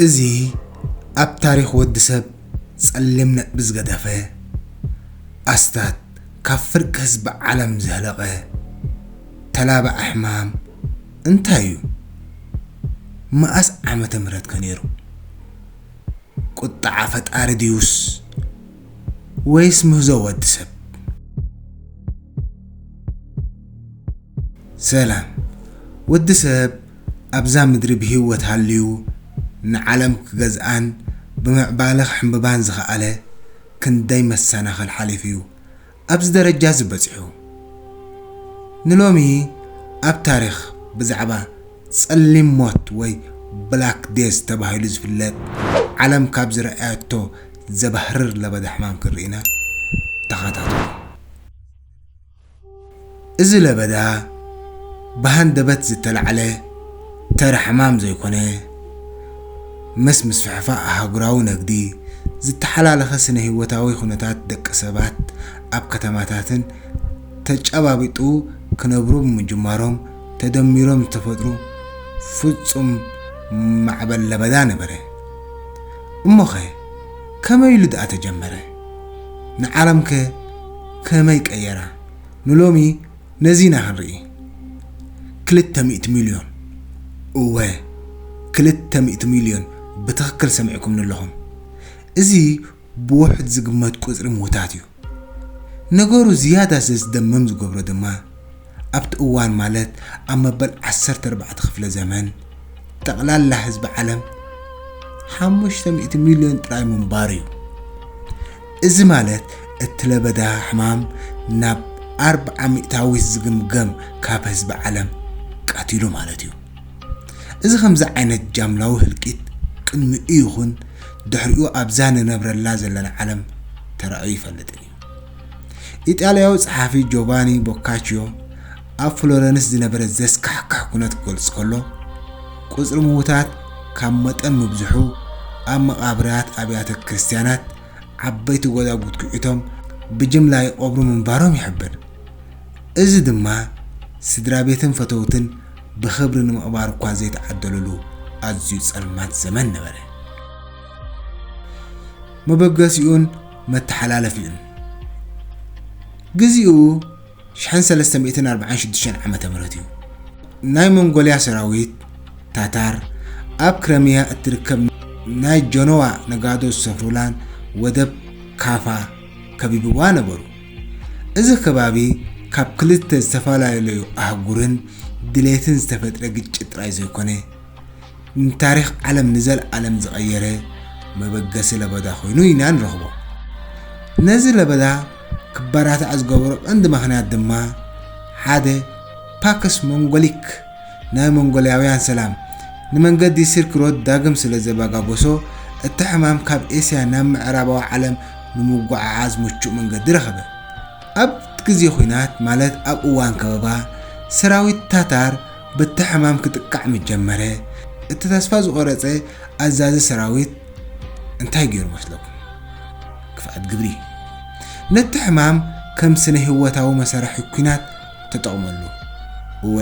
እዚ ኣብ ታሪኽ ወዲ ሰብ ጸሊም ነጥቢ ዝገደፈ፣ ኣስታት ካብ ፍርቂ ህዝቢ ዓለም ዘህለቐ ተላባዒ ሕማም እንታይ እዩ? መኣስ ዓመተ ምህረት ከ ነይሩ? ቁጥዓ ፈጣሪ ድዩስ ወይስ ምህዞ ወዲ ሰብ? ሰላም ወዲ ሰብ ኣብዛ ምድሪ ብህይወት ሃልዩ ንዓለም ክገዝኣን ብምዕባለ ክሕምብባን ዝኸኣለ ክንደይ መሰናኽል ሓሊፉ እዩ ኣብዚ ደረጃ እዚ በጺሑ። ንሎሚ ኣብ ታሪኽ ብዛዕባ ጸሊም ሞት ወይ ብላክ ዴዝ ተባሂሉ ዝፍለጥ ዓለም ካብ ዝረኣየቶ ዘባህርር ለበዳ ሕማም ክንርኢ ኢና። ተኸታተሉ። እዚ ለበዳ ብሃንደበት ዝተላዕለ ተራ ሕማም ዘይኮነ፣ ምስ ምስፍሕፋእ ኣህጉራዊ ነግዲ ዝተሓላለኸ ስነ-ህይወታዊ ኩነታት ደቂ ሰባት ኣብ ከተማታትን ተጨባቢጡ ክነብሩ ብምጅማሮም ተደሚሮም ዝተፈጥሩ ፍጹም ማዕበል ለበዳ ነበረ። እሞኸ ከመይ ኢሉ ደኣ ተጀመረ? ንዓለምከ ከመይ ቀየራ? ንሎሚ ነዚ ኢና ክንርኢ። ክልተ ሚእቲ ሚልዮን፣ እወ ክልተ ሚእቲ ሚልዮን ብትኽክል ሰሚዕኩምኒ ኣለኹም። እዚ ብውሑድ ዝግመት ቁጽሪ ምዉታት እዩ። ነገሩ ዝያዳ ዘስደምም ዝገብሮ ድማ፣ ኣብቲ እዋን ማለት ኣብ መበል ዓሰርተ ኣርባዕተ ክፍለ ዘመን ጠቕላላ ህዝቢ ዓለም ሓሙሽተ ሚእቲ ሚልዮን ጥራይ ምንባሩ እዩ። እዚ ማለት እቲ ለበዳ ሕማም ናብ ኣርብዓ ሚእታዊት ዝግምገም ካብ ህዝቢ ዓለም ቀቲሉ ማለት እዩ። እዚ ከምዚ ዓይነት ጃምላዊ ህልቂት ቅድሚኡ ይኹን ድሕሪኡ ኣብዛ ንነብረላ ዘለና ዓለም ተራእዩ ይፈልጥን እዩ። ኢጣልያዊ ጸሓፊ ጆቫኒ ቦካችዮ ኣብ ፍሎረንስ ዝነበረ ዘስካሕክሕ ኩነት ክገልጽ ከሎ፣ ቁጽሪ ምዉታት ካብ መጠን ምብዝሑ ኣብ መቓብራት ኣብያተ ክርስትያናት ዓበይቲ ጎዛጉት ኲዒቶም ብጅምላ ይቐብሩ ምንባሮም ይሕብር። እዚ ድማ ስድራቤትን ፈተውትን ብኽብሪ ንምቕባር እኳ ዘይተዓደሉሉ ኣዝዩ ጸልማት ዘመን ነበረ። መበገሲኡን መተሓላለፊኡን ግዚኡ ሽሕን ሰለስተ ሚእትን ኣርባዓን ሽዱሽተን ዓመተ ምህረት እዩ። ናይ ሞንጎልያ ሰራዊት ታታር ኣብ ክረሚያ እትርከብ ናይ ጀኖዋ ነጋዶ ዝሰፍሩላን ወደብ ካፋ ከቢብዋ ነበሩ። እዚ ከባቢ ካብ ክልተ ዝተፈላለዩ ኣህጉርን ድሌትን ዝተፈጥረ ግጭት ጥራይ ዘይኮነ ንታሪኽ ዓለም ንዘልኣለም ዝቐየረ መበገሲ ለበዳ ኮይኑ ኢና ንረኽቦ። ነዚ ለበዳ ክበራታዕ ዝገበሮ ቀንዲ ምኽንያት ድማ ሓደ ፓክስ ሞንጎሊክ ናይ ሞንጎልያውያን ሰላም ንመንገዲ ሲልክ ሮድ ዳግም ስለ ዘበጋጎሶ እቲ ሕማም ካብ ኤስያ ናብ ምዕራባዊ ዓለም ንምጉዕዓዝ ምቹእ መንገዲ ረኸበ። ኣብ ግዜ ኹናት ማለት ኣብ እዋን ከበባ ሰራዊት ታታር በቲ ሕማም ክጥቃዕ ምስ ጀመረ፣ እቲ ተስፋ ዝቖረጸ ኣዛዚ ሰራዊት እንታይ ገይሩ መስለኩም? ክፍኣት ግብሪ። ነቲ ሕማም ከም ስነ-ህይወታዊ መሳርሒ ኲናት ተጠቕመሉ። እወ፣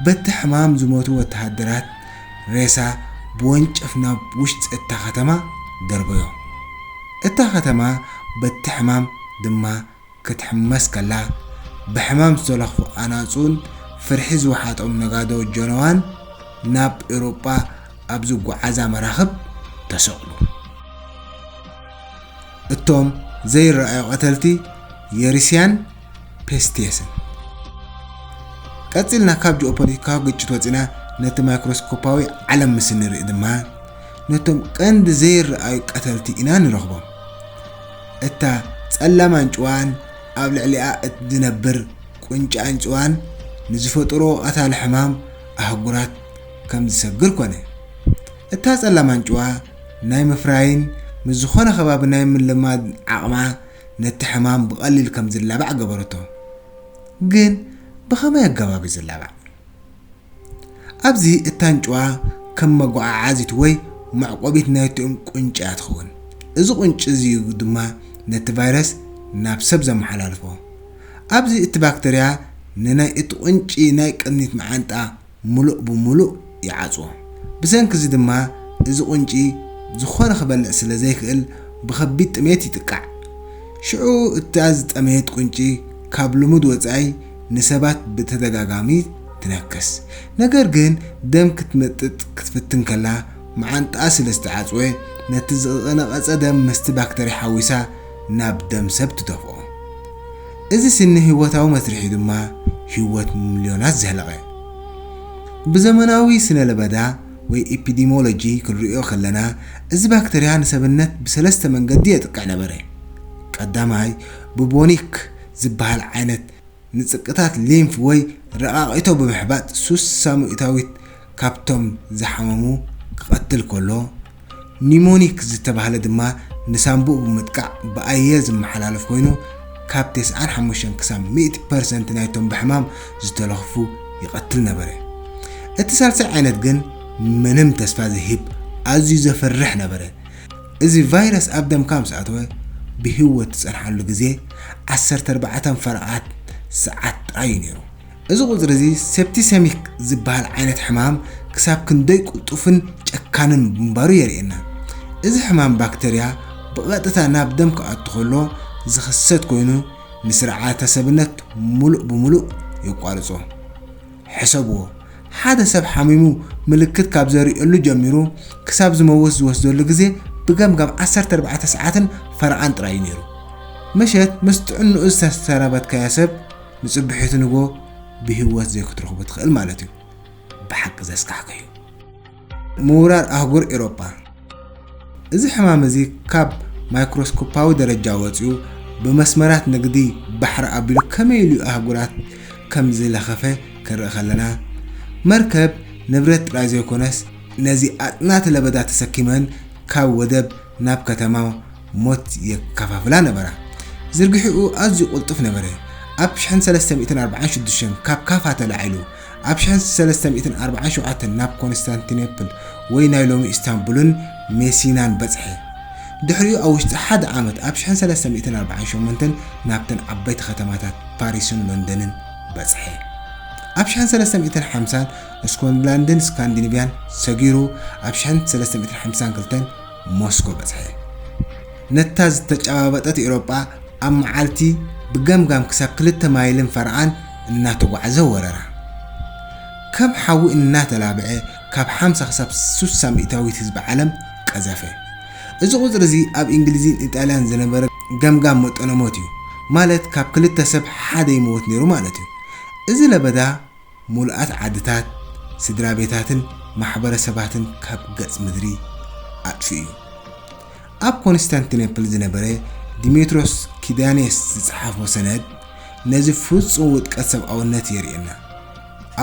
በቲ ሕማም ዝሞቱ ወተሃደራት ሬሳ ብወንጨፍ ናብ ውሽጢ እታ ከተማ ደርበዮ። እታ ከተማ በቲ ሕማም ድማ ክትሕመስ ከላ፣ ብሕማም ዝተለኽፉ ኣናጹን ፍርሒ ዝወሓጦም ነጋዶ ጀነዋን ናብ ኤውሮጳ ኣብ ዝጓዓዛ መራኽብ ተሰቕሉ። እቶም ዘይረኣዩ ቀተልቲ የሪስያን ፔስቲየስን። ቀጺልና ካብ ጂኦፖለቲካዊ ግጭት ወጺና ነቲ ማይክሮስኮፓዊ ዓለም ምስ እንርኢ ድማ ነቶም ቀንዲ ዘይረኣዩ ቀተልቲ ኢና ንረኽቦም። እታ ጸላም ኣንጭዋን ኣብ ልዕሊኣ እትነብር ቁንጪ ኣንጭዋን ንዝፈጥርኦ ቀታሊ ሕማም ኣህጉራት ከም ዝሰግር ኮነ። እታ ጸላም ኣንጭዋ ናይ ምፍራይን ምስ ዝኾነ ከባቢ ናይ ምልማድ ዓቕማ ነቲ ሕማም ብቐሊል ከም ዝላባዕ ገበረቶ። ግን ብኸመይ ኣገባብ እዩ ዝላባዕ? ኣብዚ እታ ኣንጭዋ ከም መጓዓዓዚት ወይ መዕቆቢት ናይቲ ቁንጪ እያ ትኸውን። እዚ ቁንጪ እዚ እዩ ድማ ነቲ ቫይረስ ናብ ሰብ ዘመሓላልፎ። ኣብዚ እቲ ባክተርያ ንናይ እቲ ቁንጪ ናይ ቅድሚት መዓንጣ ምሉእ ብምሉእ ይዓጽዎ። ብሰንኪ እዚ ድማ እዚ ቁንጪ ዝኾነ ክበልዕ ስለ ዘይክእል ብከቢድ ጥሜት ይጥቃዕ። ሽዑ እታ ዝጠመየት ቁንጪ ካብ ልሙድ ወጻኢ ንሰባት ብተደጋጋሚ ትነክስ። ነገር ግን ደም ክትመጥጥ ክትፍትን ከላ መዓንጣኣ ስለ ዝተዓጽወ፣ ነቲ ዝቐነቐጸ ደም ምስቲ ባክተርያ ሓዊሳ ናብ ደም ሰብ ትደፍኦ። እዚ ስነ-ህይወታዊ መስርሕ'ዩ ድማ ህይወት ሚልዮናት ዘህለቐ። ብዘመናዊ ስነ-ለበዳ ወይ ኢፒዲሞሎጂ ክንርእዮ ከለና፣ እዚ ባክተርያ ንሰብነት ብሰለስተ መንገዲ የጥቅዕ ነበረ። ቀዳማይ፣ ብቡኒክ ዝበሃል ዓይነት ንጽቅታት ሊምፍ ወይ ረቃቂቶ ብምሕባጥ ሱስ ሳሙኢታዊት ካብቶም ዝሓመሙ ክቐትል ከሎ፣ ኒሞኒክ ዝተባህለ ድማ ንሳንቡእ ብምጥቃዕ ብኣየር ዝመሓላለፍ ኮይኑ ካብ ተስዓን ሓሙሽተን ክሳብ ሚእቲ ፐርሰንት ናይቶም ብሕማም ዝተለኽፉ ይቐትል ነበረ። እቲ ሳልሳይ ዓይነት ግን ምንም ተስፋ ዘይህብ ኣዝዩ ዘፍርሕ ነበረ። እዚ ቫይረስ ኣብ ደምካ ምስ ኣተወ ብህይወት ትጸንሓሉ ግዜ ዓሰርተ ኣርባዕተ ፈረቓት ሰዓት ጥራይ እዩ ነይሩ። እዚ ቁጽሪ እዚ ሴፕቲሰሚክ ዝበሃል ዓይነት ሕማም ክሳብ ክንደይ ቅልጡፍን ጨካንን ምንባሩ የርእየና። እዚ ሕማም ባክተርያ ብቐጥታ ናብ ደም ክኣቱ ከሎ ዝኽሰት ኮይኑ ንስርዓተ ሰብነት ምሉእ ብምሉእ የቋርጾ። ሕሰብዎ፣ ሓደ ሰብ ሓሚሙ ምልክት ካብ ዘርእየሉ ጀሚሩ ክሳብ ዝመውት ዝወስደሉ ግዜ ብገምጋም ዓሰርተ ኣርባዕተ ሰዓትን ፈረቓን ጥራይ እዩ ነይሩ። ምሸት ምስ ጥዕንኡ ዝተሰናበትካዮ ሰብ ንጽብሒቱ ንግሆ ብህይወት ዘይክትረኽቦ ትኽእል ማለት እዩ። ብሓቂ ዘስካሕክሕ'ዩ። ምውራር ኣህጉር ኤሮጳ፣ እዚ ሕማም እዚ ካብ ማይክሮስኮፓዊ ደረጃ ወጺኡ ብመስመራት ንግዲ ባሕሪ ኣቢሉ ከመይ ኢሉ ኣህጉራት ከም ዝለኸፈ ክንርኢ ከለና፣ መርከብ ንብረት ጥራይ ዘይኮነስ፣ ነዚ ኣጽናቲ ለበዳ ተሰኪመን ካብ ወደብ ናብ ከተማ ሞት የከፋፍላ ነበራ። ዝርግሕኡ ኣዝዩ ቅልጡፍ ነበረ፣ ኣብ ሽሕን ሰለስተ ሚእትን ኣርባዓን ሽዱሽተን ካብ ካፋ ተላዒሉ፣ ኣብ ሽሕን ሰለስተ ሚእትን ኣርባዓን ሸውዓተን ናብ ኮንስታንቲኔፕል ወይ ናይ ሎሚ ኢስታንቡልን ሜሲናን በጽሐ። ድሕሪኡ ኣብ ውሽጢ ሓደ ዓመት ኣብ ሽሕን ሰለስተ ሚእትን ኣርባዓን ሸሞንተን ናብተን ዓበይቲ ከተማታት ፓሪስን ሎንደንን በጽሐ። ኣብ ሽሕን ሰለስተ ሚእትን ሓምሳን እስኮንላንድን ስካንዲኒቭያን ሰጊሩ ኣብ ሽሕን ሰለስተ ሚእትን ሓምሳን ክልተን ሞስኮ በጽሐ። ነታ ዝተጨባበጠት ኤውሮጳ ኣብ መዓልቲ ብገምጋም ክሳብ ክልተ ማይልን ፈረቓን እናተጓዕዘ ወረራ። ከም ሓዊ እናተላብዐ ካብ ሓምሳ ክሳብ ስሳ ሚእታዊት ህዝቢ ዓለም ቀዘፈ። እዚ ቁጽሪ እዚ ኣብ እንግሊዝን ኢጣልያን ዝነበረ ገምጋም መጠነ ሞት እዩ፣ ማለት ካብ ክልተ ሰብ ሓደ ይመውት ነይሩ ማለት እዩ። እዚ ለበዳ ምሉኣት ዓድታት፣ ስድራቤታትን ማሕበረሰባትን ካብ ገጽ ምድሪ ኣጥፊኡ'ዩ። ኣብ ኮንስታንቲነፕል ዝነበረ ዲሜትሮስ ኪዳኔስ ዝጸሓፎ ሰነድ ነዚ ፍጹም ውድቀት ሰብኣውነት የርእየና።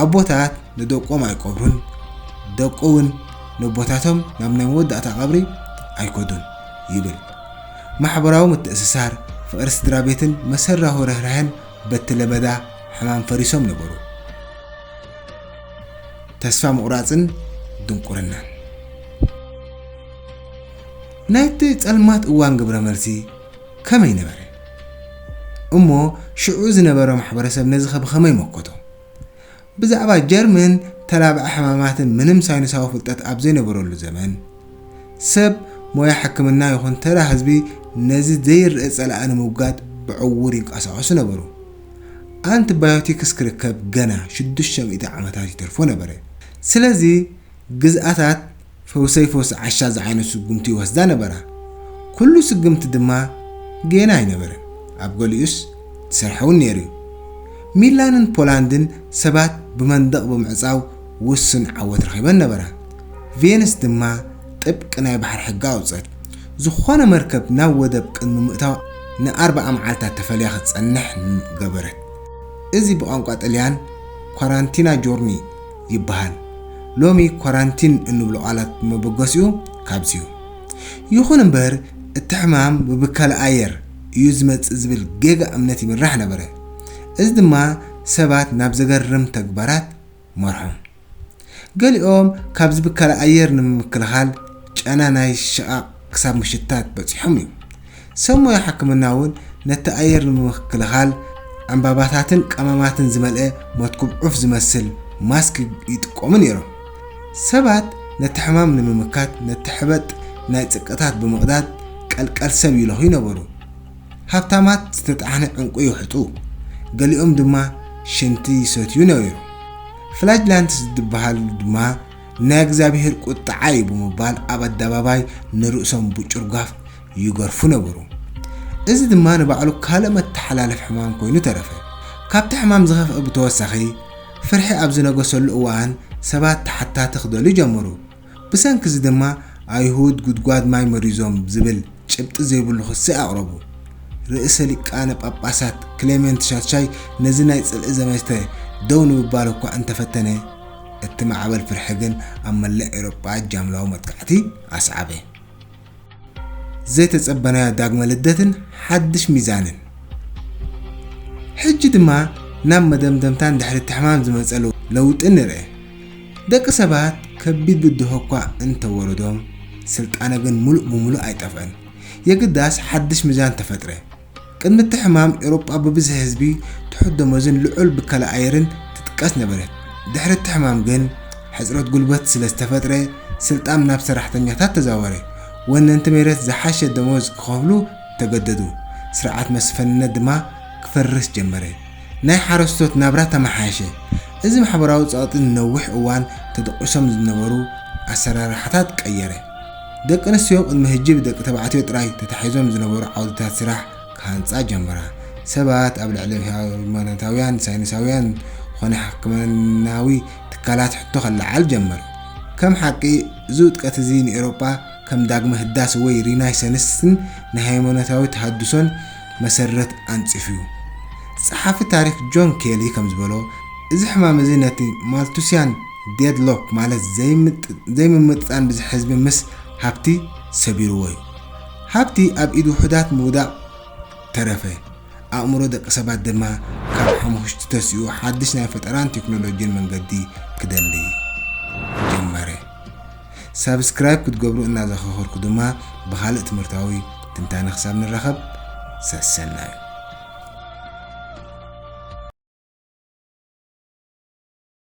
ኣቦታት ንደቆም ኣይቀብሩን፣ ደቂ እውን ነቦታቶም ናብ ናይ መወዳእታ ቀብሪ ኣይከዱን ይብል። ማሕበራዊ ምትእስሳር፣ ፍቕሪ ስድራቤትን መሰራሁ ርህራሄን በቲ ለበዳ ሕማም ፈሪሶም ነበሩ። ተስፋ ምቑራጽን ድንቁርናን ናይቲ ጸልማት እዋን ግብረ መልሲ ከመይ ነበረ? እሞ ሽዑ ዝነበረ ማሕበረሰብ ነዚ ከ ብኸመይ መከቶ? ብዛዕባ ጀርምን ተላባዒ ሕማማትን ምንም ሳይንሳዊ ፍልጠት ኣብ ዘይነበረሉ ዘመን፣ ሰብ ሞያ ሕክምና ይኹን ተራ ህዝቢ ነዚ ዘይርእ ጸላኢ ንምውጋድ ብዕዉር ይንቀሳቐሱ ነበሩ። ኣንቲ ባዮቲክስ ክርከብ ገና ሽዱሽተ ሚእቲ ዓመታት ይተርፎ ነበረ። ስለዚ ግዝኣታት ፈውሰይ ፈውሲ ዓሻ ዝዓይነቱ ስጉምቲ ይወስዳ ነበራ። ኩሉ ስግምቲ ድማ ጌና ኣይነበረን፣ ኣብ ገሊኡስ ዝሰርሐ'ውን ነይሩ'ዩ። ሚላንን ፖላንድን ሰባት ብመንደቕ ብምዕጻው ውሱን ዓወት ረኺበን ነበራ። ቬንስ ድማ ጥብቂ ናይ ባሕሪ ሕጊ ኣውጽት። ዝኾነ መርከብ ናብ ወደብ ቅድሚ ምእታዋ ንኣርብዓ መዓልታት ተፈልያ ክትጸንሕ ገበረት። እዚ ብቋንቋ ጥልያን ኳራንቲና ጆርኒ ይበሃል። ሎሚ ኳራንቲን እንብሎ ቃላት መበገሲኡ ካብዚ'ዩ። ይኹን እምበር እቲ ሕማም ብብከላ ኣየር እዩ ዝመጽእ ዝብል ጌጋ እምነት ይምራሕ ነበረ። እዚ ድማ ሰባት ናብ ዘገርም ተግባራት መርሖም። ገሊኦም ካብዚ ብከላ ኣየር ንምክልኻል ጨና ናይ ሽቓቕ ክሳብ ምሽታት በጺሖም እዮም። ሰብ ሞያ ሕክምና እውን ነቲ ኣየር ንምክክልኻል ዕምባባታትን ቀመማትን ዝመልአ መትኩብ ዑፍ ዝመስል ማስክ ይጥቀሙ ነይሮም። ሰባት ነቲ ሕማም ንምምካት ነቲ ሕበጥ ናይ ጽቅታት ብምቕዳድ ቀልቀል ሰብ ይለኽዩ ነበሩ። ሃብታማት ዝተጣሕነ ዕንቊ ይውሕጡ፣ ገሊኦም ድማ ሽንቲ ይሰትዩ ነይሮም። ፍላጅላንትስ ዝድብሃሉ ድማ ናይ እግዚኣብሄር ቁጥዓ እዩ ብምባል ኣብ ኣደባባይ ንርእሶም ብጭርጓፍ ይገርፉ ነበሩ። እዚ ድማ ንባዕሉ ካልእ መተሓላለፊ ሕማም ኮይኑ ተረፈ። ካብቲ ሕማም ዝኸፍኣ ብተወሳኺ፣ ፍርሒ ኣብ ዝነገሰሉ እዋን ሰባት ተሓታቲ ክደልዩ ጀመሩ። ብሰንኪ እዚ ድማ ኣይሁድ ጉድጓድ ማይ መሪዞም ዝብል ጭብጢ ዘይብሉ ክሲ ኣቕረቡ። ርእሰ ሊቃነ ጳጳሳት ክሌሜንት ሻድሻይ ነዚ ናይ ጽልኢ ዘመተ ደው ንምባል እኳ እንተ ፈተነ፣ እቲ ማዕበል ፍርሒ ግን ኣብ መላእ ኤውሮጳ ጃምላዊ መጥቃዕቲ ኣስዓበ። ዘይተጸበናዮ ዳግመ ልደትን ሓድሽ ሚዛንን ሕጂ ድማ ናብ መደምደምታን ድሕሪ እቲ ሕማም ዝመጸ ለውጢ ንርእ። ደቂ ሰባት ከቢድ ብድሆ እኳ እንተወረዶም ስልጣነ ግን ምሉእ ብምሉእ ኣይጠፍአን። የግዳስ ሓድሽ ሚዛን ተፈጥረ። ቅድሚ እቲ ሕማም፣ ኤውሮጳ ብብዝሒ ህዝቢ፣ ትሑት ደሞዝን ልዑል ብከላ ኣየርን ትጥቀስ ነበረት። ድሕሪ እቲ ሕማም ግን፣ ሕጽረት ጉልበት ስለ ዝተፈጥረ፣ ስልጣም ናብ ሰራሕተኛታት ተዛወረ። ወነንቲ ሜረት ዝሓሸ ደሞዝ ክኸፍሉ ተገደዱ፣ ስርዓት መስፍንነት ድማ ክፈርስ ጀመረ። ናይ ሓረስቶት ናብራ ተመሓየሸ። እዚ ማሕበራዊ ጸቕጢ ንነዊሕ እዋን ተደቊሶም ዝነበሩ ኣሰራርሓታት ቀየረ። ደቂ ኣንስትዮ ቅድሚ ሕጂ ብደቂ ተባዕትዮ ጥራይ ተታሒዞም ዝነበሩ ዓውድታት ስራሕ ክሃንጻ ጀመራ። ሰባት ኣብ ልዕሊ ሃይማኖታውያን፣ ሳይንሳውያን ዀነ ሕክምናዊ ትካላት ሕቶ ከለዓዕል ጀመረ። ከም ሓቂ፣ እዚ ውድቀት እዚ ንኤውሮጳ ከም ዳግመ ህዳሰ ወይ ሪናይሰንስን ንሃይማኖታዊ ተሃድሶን መሰረት ኣንጺፉ'ዩ። ጸሓፊ ታሪኽ ጆን ኬሊ ከም ዝበሎ፣ እዚ ሕማም እዚ ነቲ ማልቱስያን፣ ዴድሎክ ማለት ዘይምምጥጣን ብዝሒ ህዝቢ ምስ ሃብቲ ሰቢርዎ እዩ። ሃብቲ ኣብ ኢድ ውሑዳት ምውዳቕ ተረፈ፣ ኣእምሮ ደቂ ሰባት ድማ ካብ ሓሙኽሽቲ ተሲኡ ሓድሽ ናይ ፈጠራን ቴክኖሎጂን መንገዲ ክደሊ ጀመረ። ሳብስክራይብ ክትገብሩ እናዘኸኸርኩ ድማ ብኻልእ ትምህርታዊ ትንታነ ክሳብ ንራኸብ ሰሰናዩ።